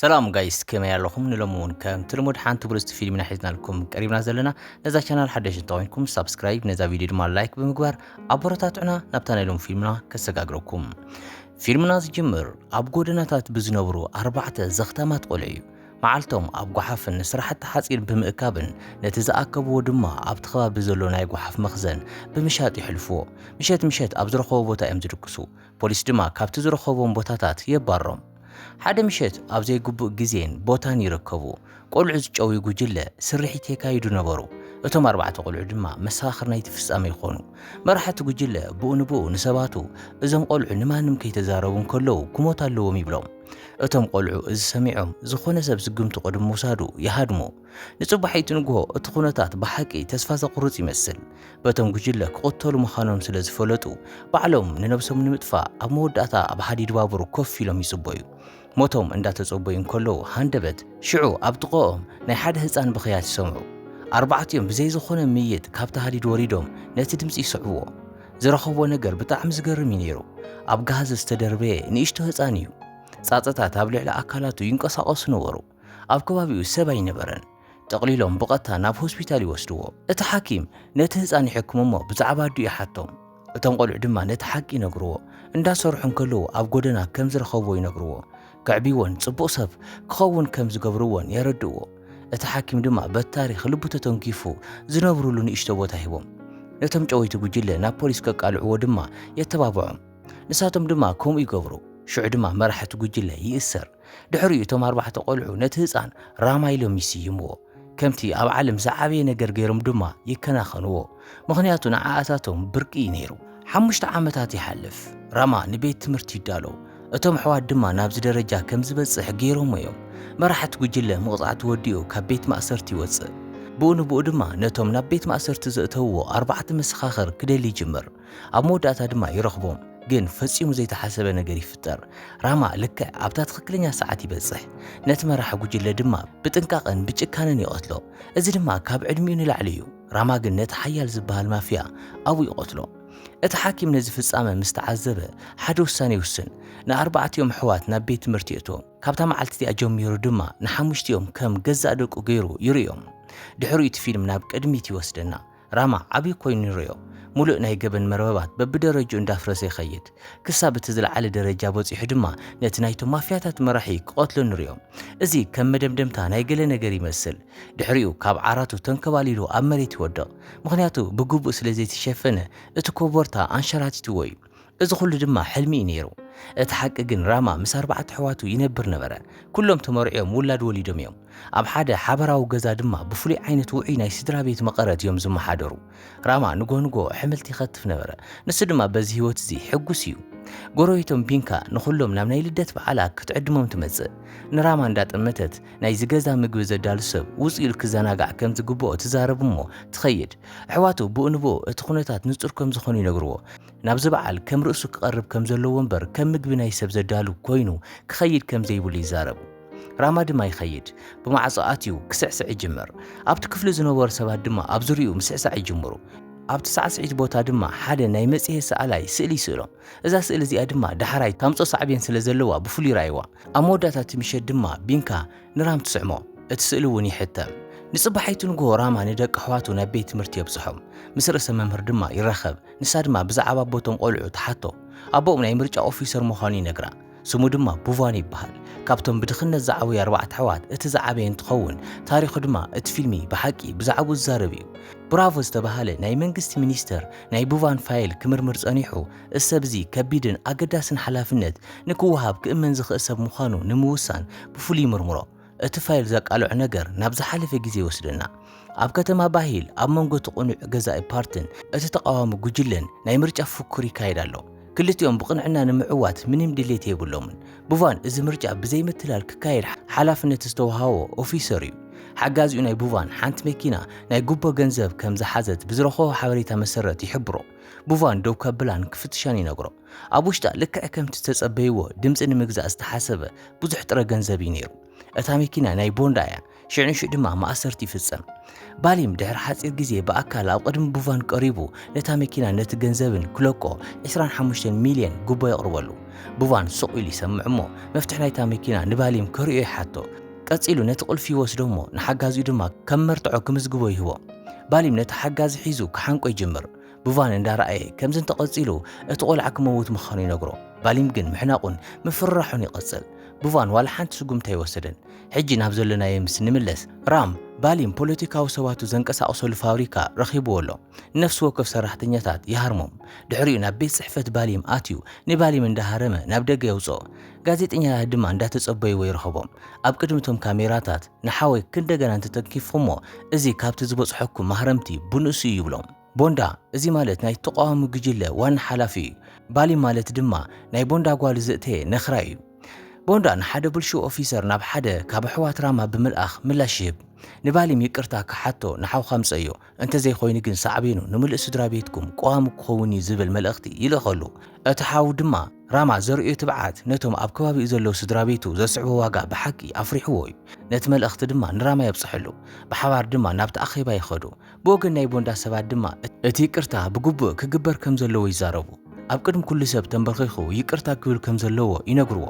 ሰላም ጋይስ ከመይ ኣለኹም ንሎሚ እውን ከምቲ ልሙድ ሓንቲ ብልጽቲ ፊልም ኢና ሒዝናልኩም ቀሪብና ዘለና ነዛ ቻናል ሓደሽ እንተኾይንኩም ሳብስክራይብ ነዛ ቪድዮ ድማ ላይክ ብምግባር ኣቦረታትዑና ናብታ ናይ ሎም ፊልምና ከሰጋግረኩም ፊልምና ዝጅምር ኣብ ጎደናታት ብዝነብሩ ኣርባዕተ ዘኽታማት ቆልዑ እዩ መዓልቶም ኣብ ጓሓፍን ንስራሕቲ ሓፂን ብምእካብን ነቲ ዝኣከብዎ ድማ ኣብቲ ከባቢ ዘሎ ናይ ጓሓፍ መኽዘን ብምሻጥ ይሕልፍዎ። ምሸት ምሸት ኣብ ዝረኸቦ ቦታ እዮም ዝድቅሱ። ፖሊስ ድማ ካብቲ ዝረኸቦም ቦታታት የባሮም። ሓደ ምሸት ኣብ ዘይግቡእ ግዜን ቦታን ይርከቡ ቆልዑ ዝጨውዩ ጉጅለ ስርሒት የካይዱ ነበሩ። እቶም ኣርባዕተ ቆልዑ ድማ መሰኻኽር ናይቲ ፍጻሜ ይኾኑ። መራሕቲ ጉጅለ ብኡ ንብኡ ንሰባቱ እዞም ቆልዑ ንማንም ከይተዛረቡ እንከለዉ ክሞት ኣለዎም ይብሎም። እቶም ቆልዑ እዚ ሰሚዖም ዝኾነ ሰብ ዝግምቱ ቅድሚ ምውሳዱ ይሃድሙ። ንጽባሒቱ ንግሆ እቲ ኩነታት ብሓቂ ተስፋ ዘቑርጽ ይመስል። በቶም ጉጅለ ክቕተሉ ምዃኖም ስለ ዝፈለጡ ባዕሎም ንነብሶም ንምጥፋእ ኣብ መወዳእታ ኣብ ሃዲድ ባቡር ኮፍ ኢሎም ይጽበዩ። ሞቶም እንዳተጸበዩ እንከለዉ ሃንደበት ሽዑ ኣብ ጥቐኦም ናይ ሓደ ህጻን ብኽያት ይሰምዑ። ኣርባዕቲኦም ብዘይ ዝኾነ ምይይጥ ካብቲ ሃዲድ ወሪዶም ነቲ ድምጺ ይስዕብዎ። ዝረኸብዎ ነገር ብጣዕሚ ዝገርም እዩ ነይሩ። ኣብ ጋህዘ ዝተደርበየ ንእሽቶ ህጻን እዩ። ጻጸታት ኣብ ልዕሊ ኣካላቱ ይንቀሳቐሱ ነበሩ። ኣብ ከባቢኡ ሰብ ኣይነበረን። ጠቕሊሎም ብቐጥታ ናብ ሆስፒታል ይወስድዎ። እቲ ሓኪም ነቲ ህጻን ይሕክም እሞ ብዛዕባ ኣዲኡ ይሓቶም። እቶም ቆልዑ ድማ ነቲ ሓቂ ይነግርዎ። እንዳሰርሑ እንከለዉ ኣብ ጎደና ከም ዝረኸብዎ ይነግርዎ። ከዕብይዎን ጽቡቕ ሰብ ክኸውን ከም ዝገብርዎን የረድእዎ። እቲ ሓኪም ድማ በቲ ታሪኽ ልቡ ተተንኪፉ ዝነብርሉ ንእሽቶ ቦታ ሂቦም። ነቶም ጨወይቲ ጉጅለ ናብ ፖሊስ ከቃልዕዎ ድማ የተባብዖም። ንሳቶም ድማ ከምኡ ይገብሩ። ሽዑ ድማ መራሒ እቲ ጉጅለ ይእሰር። ድሕሪኡ እቶም ኣርባዕተ ቈልዑ ነቲ ህጻን ራማ ኢሎም ይስይምዎ፣ ከምቲ ኣብ ዓለም ዝዓበየ ነገር ገይሮም ድማ ይከናኸንዎ፣ ምኽንያቱ ንዓኣታቶም ብርቂ እዩ ነይሩ። ሓሙሽተ ዓመታት ይሓልፍ፣ ራማ ንቤት ትምህርቲ ይዳሎ፣ እቶም ኣሕዋት ድማ ናብዚ ደረጃ ከም ዝበጽሕ ገይሮምዎ እዮም። መራሕቲ ጕጅለ መቕጻዕቲ ወዲኡ ካብ ቤት ማእሰርቲ ይወጽእ፣ ብኡ ንብኡ ድማ ነቶም ናብ ቤት ማእሰርቲ ዘእተውዎ ኣርባዕተ መሰኻኽር ክደሊ ይጅምር። ኣብ መወዳእታ ድማ ይረኽቦም። ግን ፈጺሙ ዘይተሓሰበ ነገር ይፍጠር። ራማ ልክዕ ኣብታ ትኽክለኛ ሰዓት ይበጽሕ፣ ነቲ መራሒ ጉጅለ ድማ ብጥንቃቐን ብጭካነን ይቐትሎ። እዚ ድማ ካብ ዕድሚኡ ንላዕሊ እዩ። ራማ ግን ነቲ ሓያል ዝበሃል ማፍያ ኣብኡ ይቐትሎ። እቲ ሓኪም ነዚ ፍጻመ ምስ ተዓዘበ ሓደ ውሳነ ይውስን። ንኣርባዕቲኦም ኣሕዋት ናብ ቤት ትምህርቲ የእትዎም። ካብታ መዓልቲ እቲኣ ጀሚሩ ድማ ንሓሙሽቲኦም ከም ገዛእ ደቁ ገይሩ ይርእዮም። ድሕሪኡ እቲ ፊልም ናብ ቅድሚት ይወስደና። ራማ ዓብዩ ኮይኑ ንርእዮ። ሙሉእ ናይ ገበን መርበባት በብደረጅኡ እንዳፍረሰ ይኸይድ። ክሳብ እቲ ዝለዓለ ደረጃ በጺሑ ድማ ነቲ ናይቶም ማፍያታት መራሒ ክቐትሎ ንርእዮ። እዚ ከም መደምደምታ ናይ ገለ ነገር ይመስል። ድሕሪኡ ካብ ዓራቱ ተንከባሊሉ ኣብ መሬት ይወድቕ። ምኽንያቱ ብግቡእ ስለዘይተሸፈነ እቲ ኮቦርታ ኣንሸራቲትዎ እዩ። እዚ ኹሉ ድማ ሕልሚ እዩ ነይሩ። እቲ ሓቂ ግን ራማ ምስ ኣርባዕተ ኣሕዋቱ ይነብር ነበረ። ኩሎም ተመርዕዮም ውላድ ወሊዶም እዮም። ኣብ ሓደ ሓበራዊ ገዛ ድማ ብፍሉይ ዓይነት ውዑይ ናይ ስድራቤት መቐረት እዮም ዝመሓደሩ። ራማ ንግሆ ንግሆ ኣሕምልቲ ይኸትፍ ነበረ፣ ንሱ ድማ በዚ ህይወት እዚ ሕጉስ እዩ። ጎረቤቶም ቢንካ ንኹሎም ናብ ናይ ልደት በዓላ ክትዕድሞም ትመጽእ። ንራማ እንዳጠመተት ናይዚ ገዛ ምግቢ ዘዳሉ ሰብ ውጽእ ኢሉ ክዘናጋዕ ከም ዝግብኦ ትዛረብ እሞ ትኸይድ። ኣሕዋቱ ብኡ ንብኡ እቲ ኩነታት ንጹር ከም ዝኾኑ ይነግርዎ። ናብዚ በዓል ከም ርእሱ ክቐርብ ከም ዘለዎ እምበር ከም ምግቢ ናይ ሰብ ዘዳሉ ኮይኑ ክኸይድ ከም ዘይብሉ ይዛረብ። ራማ ድማ ይኸይድ። ብማዕጾ ኣትዩ ክስዕስዕ ይጅምር። ኣብቲ ክፍሉ ዝነበሩ ሰባት ድማ ኣብ ዙርያኡ ምስዕሳዕ ይጅምሩ። ኣብቲ ሳዕስዒት ቦታ ድማ ሓደ ናይ መጽሔት ሰኣላይ ስእሊ ይስእሎም። እዛ ስእሊ እዚኣ ድማ ዳሕራይ ታምጽኦ ሳዕቤን ስለ ዘለዋ ብፍሉይ ርኣይዋ። ኣብ መወዳእታ እቲ ምሸት ድማ ቢንካ ንራም ትስዕሞ፣ እቲ ስእሊ እውን ይሕተም። ንጽባሒቱ ንግሆ ራማ ንደቂ ኣሕዋቱ ናብ ቤት ትምህርቲ የብጽሖም። ምስ ርእሰ መምህር ድማ ይራኸብ፣ ንሳ ድማ ብዛዕባ ኣቦ እቶም ቈልዑ ትሓቶ። ኣቦኦም ናይ ምርጫ ኦፊሰር ምዃኑ ይነግራ፣ ስሙ ድማ ቡቫን ይብሃል። ካብቶም ብድኽነት ዝዓበዩ ኣርባዕተ ኣሕዋት እቲ ዝዓበየ እንትኸውን፣ ታሪኹ ድማ እቲ ፊልሚ ብሓቂ ብዛዕብኡ ዝዛረብ እዩ። ብራቮ ዝተባህለ ናይ መንግስቲ ሚኒስተር ናይ ቡቫን ፋይል ክምርምር ጸኒሑ፣ ሰብ እዚ ከቢድን ኣገዳስን ሓላፍነት ንክወሃብ ክእመን ዝኽእል ሰብ ምዃኑ ንምውሳን ብፍሉይ ይምርምሮ። እቲ ፋይል ዘቃልዖ ነገር ናብ ዝሓለፈ ግዜ ይወስደና። ኣብ ከተማ ባሂል ኣብ መንጎ እቲ ቅኑዕ ገዛኢ ፓርትን እቲ ተቓዋሚ ጉጅለን ናይ ምርጫ ፉክክር ይካየድ ኣሎ። ክልቲኦም ብቕንዕና ንምዕዋት ምንም ድሌት የብሎምን። ቡቫን እዚ ምርጫ ብዘይ ምትላል ክካየድ ሓላፍነት ዝተወሃቦ ኦፊሰር እዩ። ሓጋዚኡ ናይ ቡቫን ሓንቲ መኪና ናይ ጉቦ ገንዘብ ከም ዝሓዘት ብዝረኸቦ ሓበሬታ መሰረት ይሕብሮ። ቡቫን ደው ከብላን ክፍትሻን ይነግሮ። ኣብ ውሽጣ ልክዕ ከምቲ ዝተጸበይዎ ድምጺ ንምግዛእ ዝተሓሰበ ብዙሕ ጥረ ገንዘብ እዩ ነይሩ። እታ መኪና ናይ ቦንዳ እያ፣ ሽዕ ንሽዕ ድማ ማእሰርቲ ይፍጸም። ባሊም ድሕሪ ሓጺር ግዜ ብኣካል ኣብ ቅድሚ ቡቫን ቀሪቡ ነታ መኪናን ነቲ ገንዘብን ክለቆ ዕስራን ሓሙሽተን ሚልየን ጉቦ የቕርበሉ። ቡቫን ሱቕ ኢሉ ይሰምዕ እሞ መፍትሕ ናይታ መኪና ንባሊም ከርእዮ ይሓቶ። ቀጺሉ ነቲ ቁልፊ ይወስዶ እሞ ንሓጋዚኡ ድማ ከም መርትዖ ክምዝግቦ ይህቦ። ባሊም ነቲ ሓጋዚ ሒዙ ክሓንቆ ይጅምር። ቡቫን እንዳረኣየ ከምዚ እንተቐጺሉ እቲ ቆልዓ ክመውት ምኻኑ ይነግሮ። ባሊም ግን ምሕናቑን ምፍርራሑን ይቐጽል። ቡቫን ዋላ ሓንቲ ስጉምቲ ኣይወሰደን። ሕጂ ናብ ዘሎናዮ ምስ እንምለስ፣ ራም፣ ባሊም ፖለቲካዊ ሰባቱ ዘንቀሳቕሰሉ ፋብሪካ ረኺብዎ ኣሎ። ነፍሲ ወከፍ ሰራሕተኛታት ይሃርሞም፣ ድሕሪኡ ናብ ቤት ጽሕፈት ባሊም ኣትዩ ንባሊም እንዳሃረመ ናብ ደገ የውጽኦ። ጋዜጠኛታት ድማ እንዳተጸበይዎ ይርኸቦም። ኣብ ቅድሚ እቶም ካሜራታት ንሓወይ ክንደገና እንተተንኪፍኹሞ እዚ ካብቲ ዝበጽሐኩም ማህረምቲ ብንእሱ እዩ ይብሎም። ቦንዳ እዚ ማለት ናይ ተቓዋሚ ጉጅለ ዋና ሓላፊ እዩ። ባሊም ማለት ድማ ናይ ቦንዳ ጓል ዘእተየ ነክራይ እዩ። ቦንዳ ንሓደ ብልሹው ኦፊሰር ናብ ሓደ ካብ ኣሕዋት ራማ ብምልኣኽ ምላሽ ይህብ። ንባሊም ይቅርታ ክሓቶ ንሓውካ ምጸዮ፣ እንተዘይኮይኑ ግን ሳዕቤኑ ንምሉእ ስድራ ቤትኩም ቀዋሚ ክኸውን እዩ ዝብል መልእኽቲ ይልእኸሉ። እቲ ሓው ድማ ራማ ዘርእዮ ትብዓት ነቶም ኣብ ከባቢኡ ዘለዉ ስድራ ቤቱ ዘስዕቦ ዋጋ ብሓቂ ኣፍሪሕዎ እዩ። ነቲ መልእኽቲ ድማ ንራማ የብጽሐሉ። ብሓባር ድማ ናብቲ ኣኼባ ይኸዱ። ብወገን ናይ ቦንዳ ሰባት ድማ እቲ ይቅርታ ብግቡእ ክግበር ከም ዘለዎ ይዛረቡ። ኣብ ቅድሚ ኩሉ ሰብ ተምበርኺኹ ይቅርታ ክብል ከም ዘለዎ ይነግርዎ።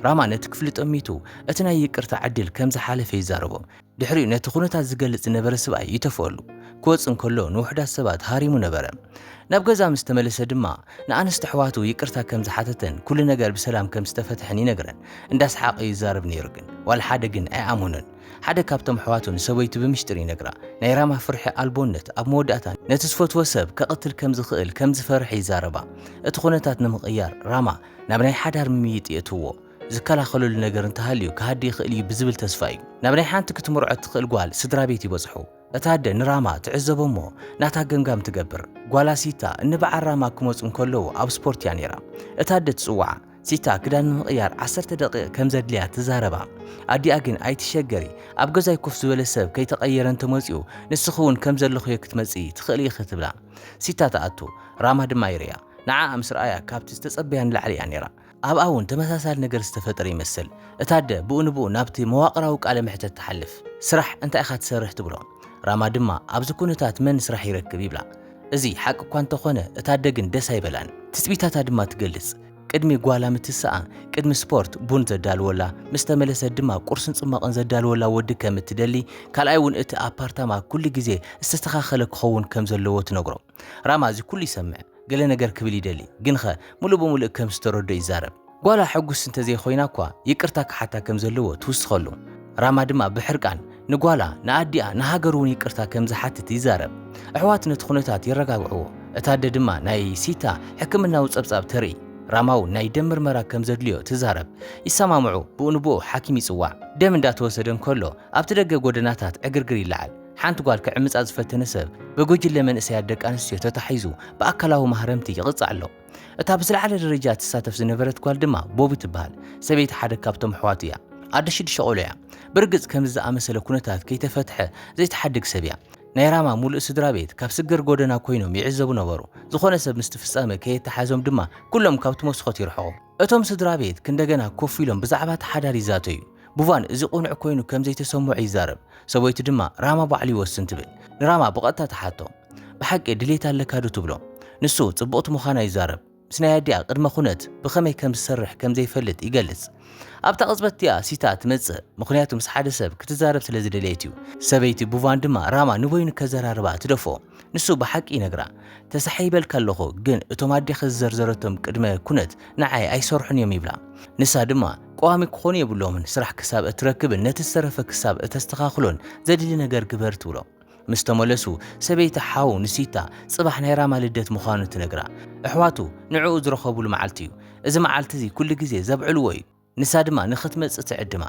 ራማ ነቲ ክፍሊ ጠሚቱ እቲ ናይ ይቅርታ ዕድል ከም ዝሓለፈ ይዛረቦም። ድሕሪኡ ነቲ ዅነታት ዚገልጽ ዝነበረ ስብኣይ ይተፍኦሉ። ኪወጽእ እንከሎ ንውሑዳት ሰባት ሃሪሙ ነበረ። ናብ ገዛ ምስ ተመለሰ ድማ ንኣንስቲ ኣሕዋቱ ይቅርታ ከም ዝሓተተን ኵሉ ነገር ብሰላም ከም ዝተፈትሐን ይነግረን። እንዳሰሓቐ እዩ ዚዛረብ ነይሩ ግን ዋላ ሓደ ግን ኣይኣመኖን። ሓደ ካብቶም ኣሕዋቱ ንሰበይቱ ብምሽጢር ይነግራ። ናይ ራማ ፍርሒ ኣልቦነት ኣብ መወዳእታ ነቲ ዝፈትዎ ሰብ ከቕትል ከም ዝኽእል ከም ዝፈርሐ ይዛረባ። እቲ ዅነታት ንምቕያር ራማ ናብ ናይ ሓዳር ምምይጥ የእትውዎ። ዝከላኸለሉ ነገር እንተሃልዩ ክሃዲ ይኽእል እዩ ብዝብል ተስፋ እዩ ናብ ናይ ሓንቲ ክትምርዖ እትኽእል ጓል ስድራ ቤት ይበጽሑ። እታ ኣደ ንራማ ትዕዘቦ እሞ ናታ ገምጋም ትገብር። ጓላ ሲታ እንብዓር ራማ ክመጹ እንከለዉ ኣብ ስፖርት እያ ነይራ። እታ ኣደ ትጽውዓ። ሲታ ክዳን ንምቕያር ዓሰርተ ደቒቕ ከም ዘድልያ ትዛረባ። ኣዲኣ ግን ኣይትሸገሪ ኣብ ገዛይ ኮፍ ዝበለ ሰብ ከይተቐየረ እንተመጺኡ ንስኺ እውን ከም ዘለኽዮ ክትመጽኢ ትኽእሊ ኢኺ ትብላ። ሲታ ትኣቱ። ራማ ድማ ይርእያ። ንዓኣ ምስ ረኣያ ካብቲ ዝተጸበያ ንላዕሊ እያ ነይራ። ኣብኣ እውን ተመሳሳሊ ነገር ዝተፈጠረ ይመስል። እታ ኣደ ብኡ ንብኡ ናብቲ መዋቕራዊ ቃለ መሕተት ትሓልፍ። ስራሕ እንታይ ኢኻ ትሰርሕ? ትብሎ። ራማ ድማ ኣብዚ ኵነታት መን ስራሕ ይረክብ? ይብላ። እዚ ሓቂ እኳ እንተ ዀነ፣ እታ ኣደ ግን ደስ ኣይበላን። ትጽቢታታ ድማ ትገልጽ። ቅድሚ ጓላ ምትሳኣ፣ ቅድሚ ስፖርት ቡን ዘዳልወላ፣ ምስ ተመለሰት ድማ ቍርስን ጽሟቕን ዘዳልወላ ወዲ ከም እትደሊ፣ ካልኣይ እውን እቲ ኣፓርታማ ኵሉ ግዜ ዝተስተኻኸለ ክኸውን ከም ዘለዎ ትነግሮ። ራማ እዚ ኩሉ ይሰምዕ ገለ ነገር ክብል ይደሊ ግንኸ ሙሉእ ብሙሉእ ከም ዝተረድኦ ይዛረብ። ጓላ ሕጉስቲ እንተዘይኾይና እኳ ይቅርታ ክሓታ ከም ዘለዎ ትውስኸሉ። ራማ ድማ ብሕርቃን ንጓላ፣ ንኣዲኣ፣ ንሃገሩ ውን ይቅርታ ከም ዝሓትት ይዛረብ። ኣሕዋት ነቲ ኩነታት የረጋግዕዎ። እታ ኣደ ድማ ናይ ሲታ ሕክምናዊ ጸብጻብ ተርኢ። ራማ ውን ናይ ደም ምርመራ ከም ዘድልዮ ትዛረብ። ይሰማምዑ፣ ብኡ ንብኡ ሓኪም ይጽዋዕ። ደም እንዳተወሰደ እንከሎ ኣብቲ ደገ ጎደናታት ዕግርግር ይለዓል። ሓንቲ ጓል ክዕምጻ ዝፈተነ ሰብ ብጉጅለ መንእሰያት ደቂ ኣንስትዮ ተታሒዙ ብኣካላዊ ማህረምቲ ይቕጻዕ ኣሎ። እታ ብዝለዓለ ደረጃ እትሳተፍ ዝነበረት ጓል ድማ ቦቢ ትበሃል። ሰበይቲ ሓደ ካብቶም ኣሕዋቱ እያ። ኣደ ሽዱሽተ ቆልዑ እያ። ብርግጽ ከምዚ ዝኣመሰለ ኩነታት ከይተፈትሐ ዘይትሓድግ ሰብ እያ። ናይ ራማ ምሉእ ስድራቤት ካብ ስግር ጎደና ኰይኖም ይዕዘቡ ነበሩ። ዝዀነ ሰብ ምስቲ ፍጻመ ከየተሓዞም ድማ ኵሎም ካብቲ መስኮት ይርሕቑ። እቶም ስድራ ቤት ክንደገና ኮፍ ኢሎም ብዛዕባ እቲ ሓዳር ይዛተዩ። ቡቫን እዚ ቅኑዕ ኰይኑ ከም ዘይተሰምዖ ይዛረብ፣ ሰበይቱ ድማ ራማ ባዕሉ ይወስን ትብል። ንራማ ብቐጥታ ትሓቶ፣ ብሓቂ ድሌት ኣለካዶ? ትብሎ። ንሱ ጽብቕቲ ምዃና ይዛረብ፣ ምስ ናይ ኣዲኣ ቅድመ ኵነት ብኸመይ ከም ዝሰርሕ ከም ዘይፈልጥ ይገልጽ። ኣብታ ቅጽበት እቲኣ ሲታ ትመጽእ፣ ምኽንያቱ ምስ ሓደ ሰብ ክትዛረብ ስለ ዝደለየት እዩ። ሰበይቲ ቡቫን ድማ ራማ ንበይኑ ከዘራርባ ትደፍኦ። ንሱ ብሓቂ ይነግራ ተሳሒበልኪ ኣለኹ ግን እቶም ኣዴኺ ዝዘርዘረቶም ቅድመ ኩነት ንዓይ ኣይሰርሑን እዮም ይብላ። ንሳ ድማ ቀዋሚ ክኾኑ የብሎምን ስራሕ ክሳብ እትረክብን ነቲ ዝተረፈ ክሳብ እተስተኻኽሎን ዘድሊ ነገር ግበር ትብሎ። ምስ ተመለሱ ሰበይቲ ሓው ንሲታ ጽባሕ ናይ ራማ ልደት ምዃኑ ትነግራ። ኣሕዋቱ ንዕኡ ዝረኸብሉ መዓልቲ እዩ። እዚ መዓልቲ እዚ ኩሉ ግዜ ዘብዕልዎ እዩ። ንሳ ድማ ንኽትመጽእ ትዕድማ።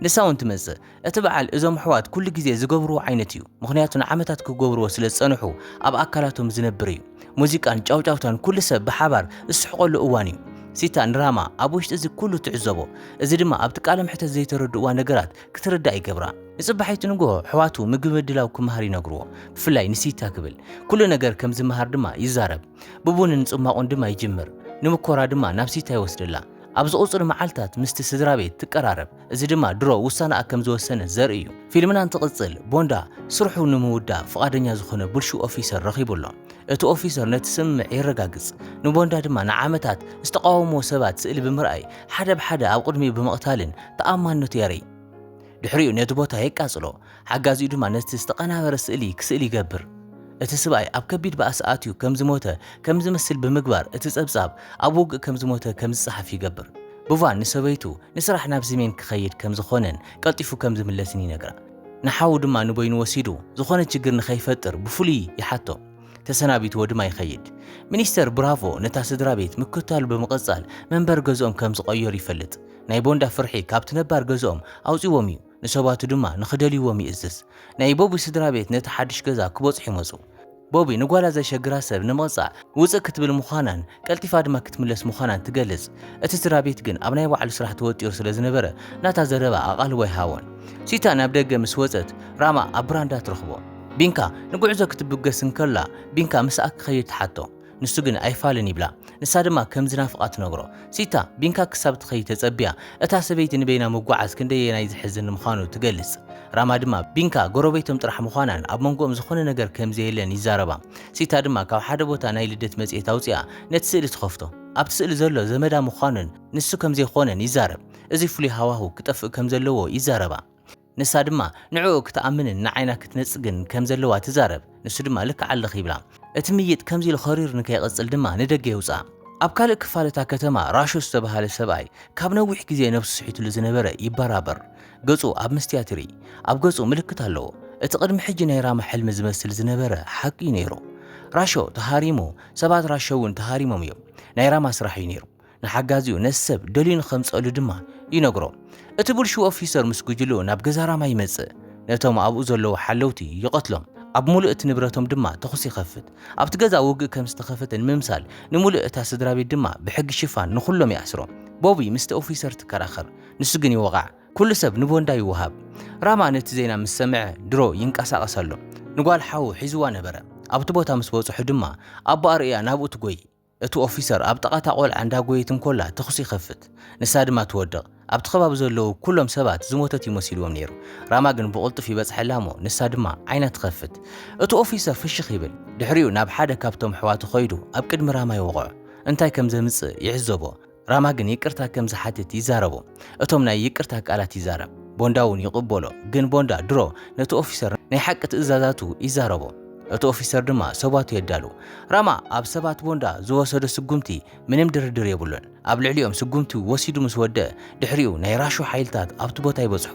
ንሳ እውን ትመጽእ። እቲ በዓል እዞም ኣሕዋት ኩሉ ግዜ ዝገብርዎ ዓይነት እዩ፣ ምኽንያቱ ንዓመታት ክገብርዎ ስለ ዝጸንሑ ኣብ ኣካላቶም ዝነብር እዩ። ሙዚቃን ጫውጫውታን ኩሉ ሰብ ብሓባር ዝስሕቐሉ እዋን እዩ። ሲታ ንራማ ኣብ ውሽጢ እዚ ኩሉ ትዕዘቦ፣ እዚ ድማ ኣብቲ ቃለ መሕተት ዘይተረድእዋ ነገራት ክትርዳእ ይገብራ። ንጽባሒቱ ንግሆ ኣሕዋቱ ምግቢ ምድላው ክመሃር ይነግርዎ፣ ብፍላይ ንሲታ ክብል። ኩሉ ነገር ከም ዝመሃር ድማ ይዛረብ። ብቡንን ጽሟቝን ድማ ይጅምር፣ ንምኮራ ድማ ናብ ሲታ ይወስደላ። ኣብ ዝቕጽሉ መዓልታት ምስቲ ስድራቤት ትቀራረብ፣ እዚ ድማ ድሮ ውሳነኣ ከም ዝወሰነት ዘርኢ እዩ። ፊልምና እንትቕጽል፣ ቦንዳ ስርሑ ንምውዳእ ፍቓደኛ ዝዀነ ብልሹው ኦፊሰር ረኺቡ ኣሎ። እቲ ኦፊሰር ነቲ ስምምዕ የረጋግጽ፣ ንቦንዳ ድማ ንዓመታት ዝተቓወምዎ ሰባት ስእሊ ብምርኣይ ሓደ ብሓደ ኣብ ቅድሚኡ ብምቕታልን ተኣማንነቱ የርኢ። ድሕሪኡ ነቲ ቦታ የቃጽሎ። ሓጋዚኡ ድማ ነቲ ዝተቐናበረ ስእሊ ክስእል ይገብር። እቲ ስብኣይ ኣብ ከቢድ ባእሲ ኣትዩ ከም ዝሞተ ከም ዝመስል ብምግባር እቲ ጸብጻብ ኣብ ውግእ ከም ዝሞተ ከም ዝጸሓፍ ይገብር። ብቫን ንሰበይቱ ንስራሕ ናብ ስሜን ክኸይድ ከም ዝዀነን ቀልጢፉ ከም ዝምለስን ይነግራ። ንሓዉ ድማ ንበይኑ ወሲዱ ዝዀነ ችግር ንኸይፈጥር ብፍሉይ ይሓቶ። ተሰናቢትዎ ድማ ይኸይድ። ሚኒስተር ብራቮ ነታ ስድራቤት ምክትታሉ ብምቕጻል መንበሪ ገዝኦም ከም ዝቐየሩ ይፈልጥ። ናይ ቦንዳ ፍርሒ ካብቲ ነባር ገዝኦም ኣውጺዎም እዩ። ንሰባቱ ድማ ንኽደልይዎም ይእዝዝ። ናይ ቦቢ ስድራ ቤት ነቲ ሓድሽ ገዛ ክበጽሑ ይመጹ። ቦቢ ንጓላ ዘሸግራ ሰብ ንምቕጻዕ ውጽእ ክትብል ምዃናን ቀልጢፋ ድማ ክትምለስ ምዃናን ትገልጽ። እቲ ስድራ ቤት ግን ኣብ ናይ ባዕሉ ስራሕ ተወጢሩ ስለ ዝነበረ ናታ ዘረባ ኣቓልቦ ኣይሃቦን። ሲታ ናብ ደገ ምስ ወጸት ራማ ኣብ ብራንዳ ትረኽቦ። ቢንካ ንጉዕዞ ክትብገስ እንከላ ቢንካ ምስኣ ክኸይድ ትሓቶ። ንሱ ግን ኣይፋልን ይብላ። ንሳ ድማ ከም ዝናፍቓ ትነግሮ። ሲታ፣ ቢንካ ክሳብ እትኸይድ ተጸብያ፣ እታ ሰበይቲ ንበይና ምጕዓዝ ክንደየናይ ዘሕዝን ምዃኑ ትገልጽ። ራማ ድማ፣ ቢንካ ጎረቤቶም ጥራሕ ምዃናን ኣብ መንጎኦም ዝዀነ ነገር ከም ዘየለን ይዛረባ። ሲታ ድማ ካብ ሓደ ቦታ ናይ ልደት መጽሔት ኣውጺኣ ነቲ ስእሊ ትኸፍቶ። ኣብቲ ስእሊ ዘሎ ዘመዳ ምዃኑን ንሱ ከም ዘይኰነን ይዛረብ። እዚ ፍሉይ ሃዋህው ክጠፍእ ከም ዘለዎ ይዛረባ። ንሳ ድማ ንዕኡ ክትኣምንን ንዓይና ክትነጽግን ከም ዘለዋ ትዛረብ፣ ንሱ ድማ ልክዕ ኣለኺ ይብላ። እቲ ምይይጥ ከምዚ ኢሉ ኸሪሩ ንከይቕጽል ድማ ንደገ የውጽኣ። ኣብ ካልእ ክፋል እታ ከተማ ራሾ ዝተባህለ ሰብኣይ ካብ ነዊሕ ግዜ ነብሱ ስሒቱሉ ዝነበረ ይበራበር። ገጹ ኣብ መስትያት ይርኢ። ኣብ ገጹ ምልክት ኣለዎ። እቲ ቅድሚ ሕጂ ናይ ራማ ሕልሚ ዝመስል ዝነበረ ሓቂ እዩ ነይሩ። ራሾ ተሃሪሙ፣ ሰባት ራሾ እውን ተሃሪሞም እዮም። ናይ ራማ ስራሕ እዩ ነይሩ። ንሓጋዚኡ ነቲ ሰብ ደልዩ ንኸምጽኣሉ ድማ ይነግሮ። እቲ ብልሽው ኦፊሰር ምስ ጕጅለኡ ናብ ገዛ ራማ ይመጽእ፣ ነቶም ኣብኡ ዘለዉ ሓለውቲ ይቐትሎም፣ ኣብ ምሉእ እቲ ንብረቶም ድማ ተዅሲ ይኸፍት። ኣብቲ ገዛ ውግእ ከም ዝተኸፈተ ንምምሳል፣ ንምሉእ እታ ስድራቤት ድማ ብሕጊ ሽፋን ንዅሎም ይኣስሮም። ቦቢ ምስቲ ኦፊሰር ትከራኸር፣ ንሱ ግን ይወቓዕ። ኵሉ ሰብ ንቦንዳ ይወሃብ። ራማ ነቲ ዜና ምስ ሰምዐ ድሮ ይንቀሳቐስ ኣሎ። ንጓል ሓዉ ሒዝዋ ነበረ። ኣብቲ ቦታ ምስ በጽሑ ድማ ኣቦኣ ርእያ ናብኡ ትጐዪ። እቲ ኦፊሰር ኣብ ጥቓ እታ ቆልዓ እንዳጎየት እንኮላ ተኹሲ ይኸፍት፣ ንሳ ድማ ትወድቕ። ኣብቲ ከባቢ ዘለዉ ኩሎም ሰባት ዝሞተት እዩ መሲልዎም ነይሩ። ራማ ግን ብቕልጡፍ ይበጽሐላ እሞ ንሳ ድማ ዓይና ትኸፍት። እቲ ኦፊሰር ፍሽኽ ይብል። ድሕሪኡ ናብ ሓደ ካብቶም ኣሕዋቱ ከይዱ ኣብ ቅድሚ ራማ ይወቕዖ። እንታይ ከም ዘምጽእ ይዕዘቦ። ራማ ግን ይቅርታ ከም ዝሓትት ይዛረቡ። እቶም ናይ ይቅርታ ቃላት ይዛረብ። ቦንዳ እውን ይቕበሎ። ግን ቦንዳ ድሮ ነቲ ኦፊሰር ናይ ሓቂ ትእዛዛቱ ይዛረቦ። እቲ ኦፊሰር ድማ ሰባቱ የዳሉ። ራማ ኣብ ሰባት ቦንዳ ዝወሰዶ ስጉምቲ ምንም ድርድር የብሉን። ኣብ ልዕሊኦም ስጉምቲ ወሲዱ ምስ ወደእ ድሕሪኡ ናይ ራሹ ሓይልታት ኣብቲ ቦታ ይበጽሑ።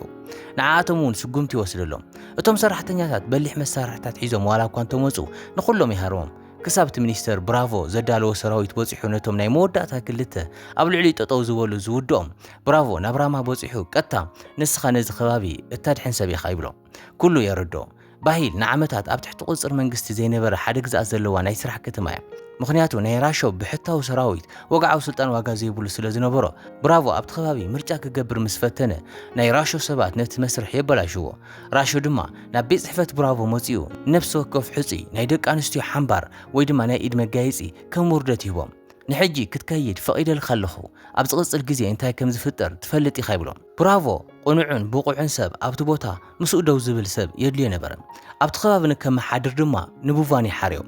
ንዓኣቶም እውን ስጉምቲ ይወስደሎም። እቶም ሰራሕተኛታት በሊሕ መሳርሕታት ሒዞም ዋላ እኳ እንተመጹ ንኹሎም ይሃርሞም። ክሳብ እቲ ሚኒስተር ብራቮ ዘዳለዎ ሰራዊት በጺሑ ነቶም ናይ መወዳእታ ክልተ ኣብ ልዕሊኡ ጠጠው ዝበሉ ዝውድኦም ብራቮ ናብ ራማ በጺሑ ቀጥታ ንስኻ ነዚ ከባቢ እተድሕን ሰብ ኢኻ ይብሎ። ኩሉ የረድኦ። ባሂል ንዓመታት ኣብ ትሕቲ ቁጽጽር መንግስቲ ዘይነበረ ሓደ ግዝኣት ዘለዋ ናይ ስራሕ ከተማ እያ። ምኽንያቱ ናይ ራሾ ብሕታዊ ሰራዊት ወግዓዊ ስልጣን ዋጋ ዘይብሉ ስለ ዝነበሮ ብራቮ ኣብቲ ከባቢ ምርጫ ክገብር ምስ ፈተነ ናይ ራሾ ሰባት ነቲ መስርሕ የበላሽዎ። ራሾ ድማ ናብ ቤት ጽሕፈት ብራቮ መጺኡ ንነፍሲ ወከፍ ሕጹይ ናይ ደቂ ኣንስትዮ ሓምባር ወይ ድማ ናይ ኢድ መጋየጺ ከም ውርደት ይህቦም። ንሕጂ ክትከይድ ፈቒደልካ ኣለኹ፣ ኣብ ዝቕጽል ግዜ እንታይ ከም ዝፍጠር ትፈልጥ ኢኻ ይብሎ። ብራቮ ቅኑዕን ብቑዕን ሰብ ኣብቲ ቦታ ምስኡ ደው ዝብል ሰብ የድልዮ ነበረ። ኣብቲ ከባቢ ንከመሓድር ድማ ንቡቫን ይሓርዮ።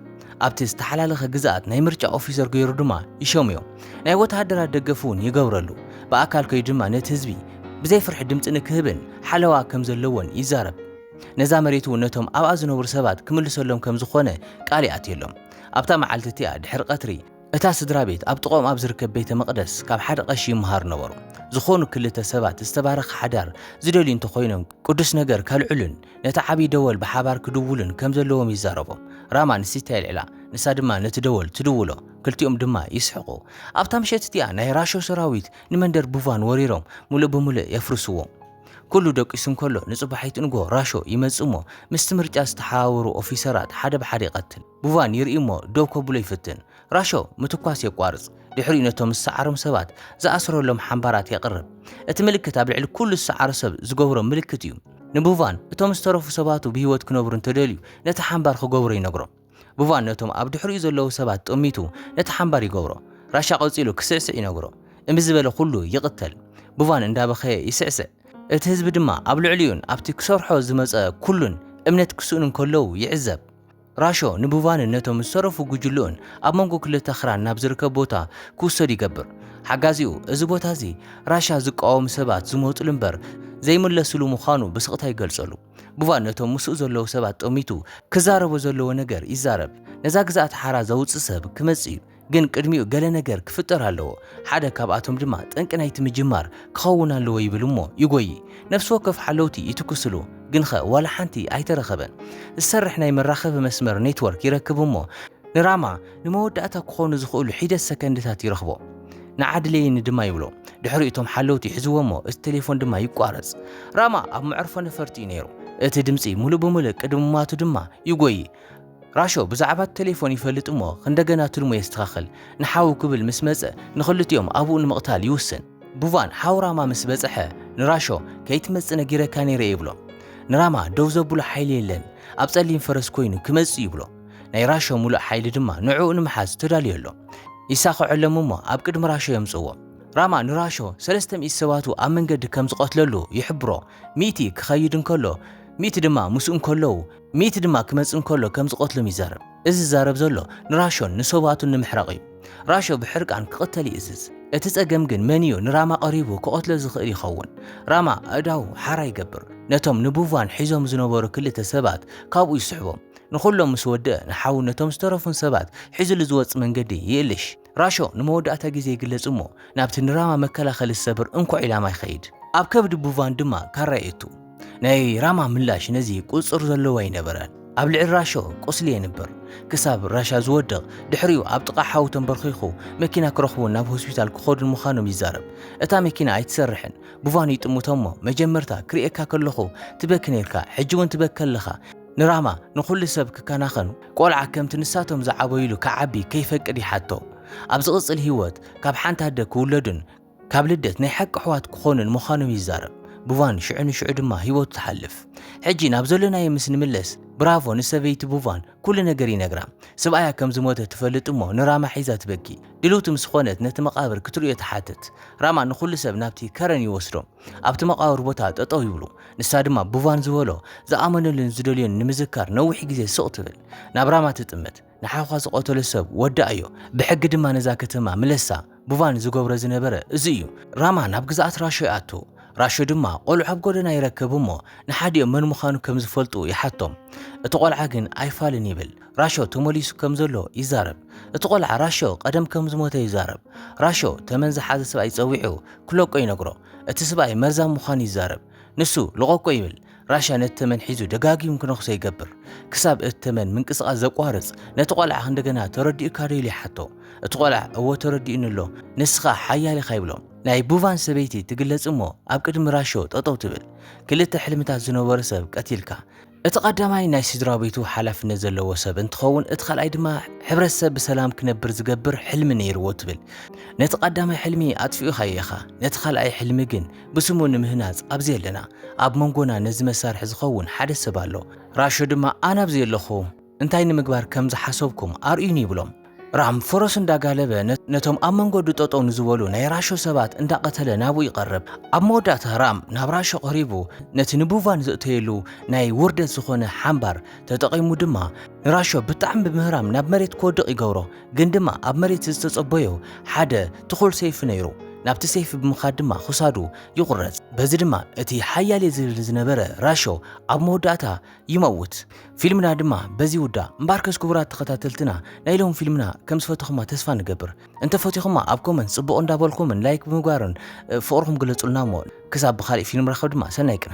ኣብቲ ዝተሓላለኸ ግዝኣት ናይ ምርጫ ኦፊሰር ገይሩ ድማ ይሸሙዮ። ናይ ወተሃደራት ደገፍ እውን ይገብረሉ። ብኣካል ከይዱ ድማ ነቲ ህዝቢ ብዘይ ፍርሒ ድምጺ ንክህብን ሓለዋ ከም ዘለዎን ይዛረብ። ነዛ መሬት እውን ነቶም ኣብኣ ዝነብሩ ሰባት ክምልሰሎም ከም ዝኾነ ቃል ይኣትየሎም። ኣብታ መዓልቲ እቲኣ ድሕሪ ቀትሪ፣ እታ ስድራ ቤት ኣብ ጥቐኦም ኣብ ዝርከብ ቤተ መቕደስ ካብ ሓደ ቐሺ ይመሃሩ ነበሩ። ዝኾኑ ክልተ ሰባት ዝተባረኸ ሓዳር ዝደልዩ እንተኾይኖም ቅዱስ ነገር ከልዕሉን ነቲ ዓብዪ ደወል ብሓባር ክድውሉን ከም ዘለዎም ይዛረቦም። ራማ ንሲታ የልዕላ፣ ንሳ ድማ ነቲ ደወል ትድውሎ፣ ክልቲኦም ድማ ይስሕቑ። ኣብታ ምሸት እቲኣ ናይ ራሾ ሰራዊት ንመንደር ቡቫን ወሪሮም ምሉእ ብምሉእ የፍርስዎ። ኩሉ ደቂሱ እንከሎ ንጽባሒት ንግሆ ራሾ ይመጽእ እሞ ምስቲ ምርጫ ዝተሓባበሩ ኦፊሰራት ሓደ ብሓደ ይቐትል። ቡቫን ይርኢ'ሞ ደው ከብሎ ይፍትን። ራሾ ምትኳስ የቋርጽ፣ ድሕሪኡ ነቶም ዝሰዓሮም ሰባት ዝኣስረሎም ሓምባራት የቕርብ። እቲ ምልክት ኣብ ልዕሊ ኩሉ ዝሰዓሮ ሰብ ዝገብሮ ምልክት እዩ። ንቡቫን እቶም ዝተረፉ ሰባቱ ብህይወት ክነብሩ እንተደልዩ ነቲ ሓምባር ክገብሮ ይነግሮ። ቡቫን ነቶም ኣብ ድሕሪኡ ዘለዉ ሰባት ጠሚቱ ነቲ ሓምባር ይገብሮ። ራሻ ቀጺሉ ክስዕስዕ ይነግሮ። እምቢ ዝበለ ኩሉ ይቕተል። ቡቫን እንዳበኸየ ይስዕስዕ። እቲ ህዝቢ ድማ ኣብ ልዕሊኡን ኣብቲ ክሰርሖ ዝመጸ ኩሉን እምነት ክስእኑ እንከለዉ ይዕዘብ። ራሾ ንቡቫንን ነቶም ዝተረፉ ጉጅልኡን ኣብ መንጎ ክልተ ኣኽራን ናብ ዝርከብ ቦታ ክውሰዱ ይገብር። ሓጋዚኡ፣ እዚ ቦታ እዚ ራሻ ዝቃወሙ ሰባት ዝመጹሉ እምበር ዘይምለሱሉ ምዃኑ ብስቕታ ይገልጸሉ። ቡቫን ነቶም ምስኡ ዘለዉ ሰባት ጠሚቱ ክዛረቦ ዘለዎ ነገር ይዛረብ፣ ነዛ ግዝኣት ሓራ ዘውጽእ ሰብ ክመጽእ እዩ፣ ግን ቅድሚኡ ገለ ነገር ክፍጠር ኣለዎ፣ ሓደ ካብኣቶም ድማ ጠንቂ ናይቲ ምጅማር ክኸውን ኣለዎ ይብል እሞ ይጎዪ። ነፍሲ ወከፍ ሓለውቲ ይትኩስሉ፣ ግንኸ ዋላ ሓንቲ ኣይተረኸበን። ዝሰርሕ ናይ መራኸቢ መስመር ኔትወርክ ይረክብ እሞ ንራማ ንመወዳእታ ክኾኑ ዝኽእሉ ሒደት ሰከንድታት ይረኽቦ። ንዓ ድለየኒ ድማ ይብሎ። ድሕሪኡ እቶም ሓለውቲ ይሕዝዎ እሞ እቲ ቴሌፎን ድማ ይቋረጽ። ራማ ኣብ መዕርፎ ነፈርቲ እዩ ነይሩ። እቲ ድምጺ ምሉእ ብምሉእ ቅድሚ ምሟቱ ድማ ይጎዪ። ራሾ ብዛዕባቲ ተሌፎን ይፈልጥ እሞ ኽንደገና ትልሙ የስተኻኽል። ንሓዉ ክብል ምስ መጸ ንኽልቲኦም ኣቡኡ ንምቕታል ይዉስን። ቡቫን ሓዉ ራማ ምስ በጸሐ ንራሾ ከይትመጽእ ነጊረካ ነይረ'የ ይብሎ። ንራማ ደዉ ዘብሎ ሓይሊ የለን። ኣብ ጸሊም ፈረስ ኮይኑ ክመጽእ'ዩ ይብሎ። ናይ ራሾ ምሉእ ሓይሊ ድማ ንዕኡ ንምሓዝ ተዳልዮ ኣሎ። ይሳኽዐሎም እሞ ኣብ ቅድሚ ራሾ የምጽእዎ። ራማ ንራሾ ሰለስተ ሚእቲ ሰባቱ ኣብ መንገዲ ከም ዝቐትለሉ ይሕብሮ። ሚእቲ ክኸይድ እንከሎ ሚእቲ ድማ ምስኡ እንከለዉ። ሚእቲ ድማ ክመጽእ እንከሎ ከም ዝቐትሎም ይዛረብ። እዚ ዝዛረብ ዘሎ ንራሾን ንሰውኣቱን ንምሕራቕ እዩ። ራሾ ብሕርቃን ክቕተል ይእዝዝ። እቲ ጸገም ግን መን እዩ ንራማ ቀሪቡ ክቐትሎ ዝኽእል ይኸውን? ራማ ኣእዳዉ ሓራ ይገብር። ነቶም ንቡቫን ሒዞም ዝነበሩ ክልተ ሰባት ካብኡ ይስሕቦም። ንኹሎም ምስ ወድእ ንሓዉን ነቶም ዝተረፉን ሰባት ሒዝሉ ዝወጽእ መንገዲ ይእልሽ። ራሾ ንመወዳእታ ግዜ ይግለጽ እሞ ናብቲ ንራማ መከላኸሊ ዝሰብር እንኮ ዒላማ ይኸይድ። ኣብ ከብዲ ቡቫን ድማ ካራ የእቱ። ናይ ራማ ምላሽ ነዚ ቁጽጽር ዘለዎ ኣይነበረን። ኣብ ልዕሊ ራሾ ቁስሊ የንብር። ክሳብ ራሻ ዝወድቕ፣ ድሕሪኡ ኣብ ጥቓ ሓው ተምበርኺኹ መኪና ክረኽቡን ናብ ሆስፒታል ክኸዱን ምዃኖም ይዛረብ። እታ መኪና ኣይትሰርሕን። ቡቫን ይጥምቶ እሞ መጀመርታ ክርእየካ ከለኹ ትበኪ ኔርካ፣ ሕጂ'ውን ትበኪ ኣለኻ። ንራማ ንኹሉ ሰብ ክከናኸኑ፣ ቆልዓ ከምቲ ንሳቶም ዝዓበዩሉ ክዓቢ ከይፈቅድ ይሓቶ። ኣብ ዝቕጽል ህይወት ካብ ሓንቲ ኣደ ክውለዱን ካብ ልደት ናይ ሓቂ ኣሕዋት ክኾኑን ምዃኖም ይዛረብ። ቡቫን ሽዑ ንሽዑ ድማ ህይወቱ ትሓልፍ። ሕጂ ናብ ዘሎናዮ ምስ ንምለስ ብራቮ ንሰበይቲ ቡቫን ኩሉ ነገር ይነግራ። ስብኣያ ከም ዝሞተ ትፈልጥ እሞ ንራማ ሒዛ ትበኪ። ድልውቲ ምስ ኾነት ነቲ መቓብር ክትርእዮ ትሓትት። ራማ ንኹሉ ሰብ ናብቲ ከረን ይወስዶ። ኣብቲ መቓብር ቦታ ጠጠው ይብሉ። ንሳ ድማ ብቫን ዝበሎ ዝኣመነሉን ዝደልዮን ንምዝካር ነዊሕ ግዜ ስቕ ትብል። ናብ ራማ ትጥምት። ንሓውካ ዝቐተሎ ሰብ ወዳኣዮ፣ ብሕጊ ድማ ነዛ ከተማ ምለሳ። ብቫን ዝገብሮ ዝነበረ እዚ እዩ። ራማ ናብ ግዝኣት ራሾ ይኣቱ። ራሾ ድማ ቆልዑ ኣብ ጎደና ይረክብ እሞ ንሓዲኦም መን ምዃኑ ከም ዝፈልጡ ይሓቶም። እቲ ቆልዓ ግን ኣይፋልን ይብል። ራሾ ተመሊሱ ከም ዘሎ ይዛረብ። እቲ ቆልዓ ራሾ ቀደም ከም ዝሞተ ይዛረብ። ራሾ ተመን ዝሓዘ ስብኣይ ጸዊዑ ክለቆ ይነግሮ። እቲ ስብኣይ መርዛም ምዃኑ ይዛረብ። ንሱ ልቐቆ ይብል። ራሻ ነቲ ተመን ሒዙ ደጋጊሙ ክነኽሶ ይገብር። ክሳብ እቲ ተመን ምንቅስቓስ ዘቋርጽ ነቲ ቆልዓ እንደገና ተረዲኡካ ዶ ኢሉ ይሓቶ። እቲ ቆልዓ እዎ ተረዲኡኒ ኣሎ፣ ንስኻ ሓያል ኢኻ ይብሎ። ናይ ቡቫን ሰበይቲ ትግለጽ እሞ ኣብ ቅድሚ ራሾ ጠጠው ትብል። ክልተ ሕልምታት ዝነበሮ ሰብ ቀቲልካ። እቲ ቀዳማይ ናይ ስድራቤቱ ሓላፍነት ዘለዎ ሰብ እንትኸውን እቲ ካልኣይ ድማ ሕብረተሰብ ብሰላም ክነብር ዝገብር ሕልሚ ነይርዎ ትብል። ነቲ ቀዳማይ ሕልሚ ኣጥፊኡኻዮ ኢኻ፣ ነቲ ካልኣይ ሕልሚ ግን ብስሙ ንምህናጽ ኣብዚ ኣለና። ኣብ መንጎና ነዚ መሳርሒ ዝኸውን ሓደ ሰብ ኣሎ። ራሾ ድማ ኣነ ኣብዚ ኣለኹ። እንታይ ንምግባር ከም ዝሓሰብኩም ኣርእዩኒ ይብሎም። ራም ፈረሱ እንዳጋለበ ነቶም ኣብ መንገዱ ጠጠው ንዝበሉ ናይ ራሾ ሰባት እንዳቐተለ ናብኡ ይቐርብ። ኣብ መወዳእታ ራም ናብ ራሾ ቀሪቡ ነቲ ንቡቫን ዘእተየሉ ናይ ውርደት ዝኾነ ሓምባር ተጠቒሙ ድማ ንራሾ ብጣዕሚ ብምህራም ናብ መሬት ክወድቕ ይገብሮ። ግን ድማ ኣብ መሬት ዝተጸበዮ ሓደ ትኹል ሰይፊ ነይሩ። ናብቲ ሰይፊ ብምኻድ ድማ ክሳዱ ይቑረጽ። በዚ ድማ እቲ ሓያል'የ ዝብል ዝነበረ ራሾ ኣብ መወዳእታ ይመውት ፊልምና ድማ በዚ ይውዳእ። እምበኣርከስ ክቡራት ተኸታተልትና ናይ ሎሚ ፊልምና ከም ዝፈተኹማ ተስፋ ንገብር። እንተ ፈቲኹማ ኣብ ኮመንት ጽቡቕ እንዳበልኩምን ላይክ ብምግባርን ፍቕርኹም ግለጹልና እሞ ክሳብ ብኻልእ ፊልም ራኸብ ድማ ሰናይ ቅነ።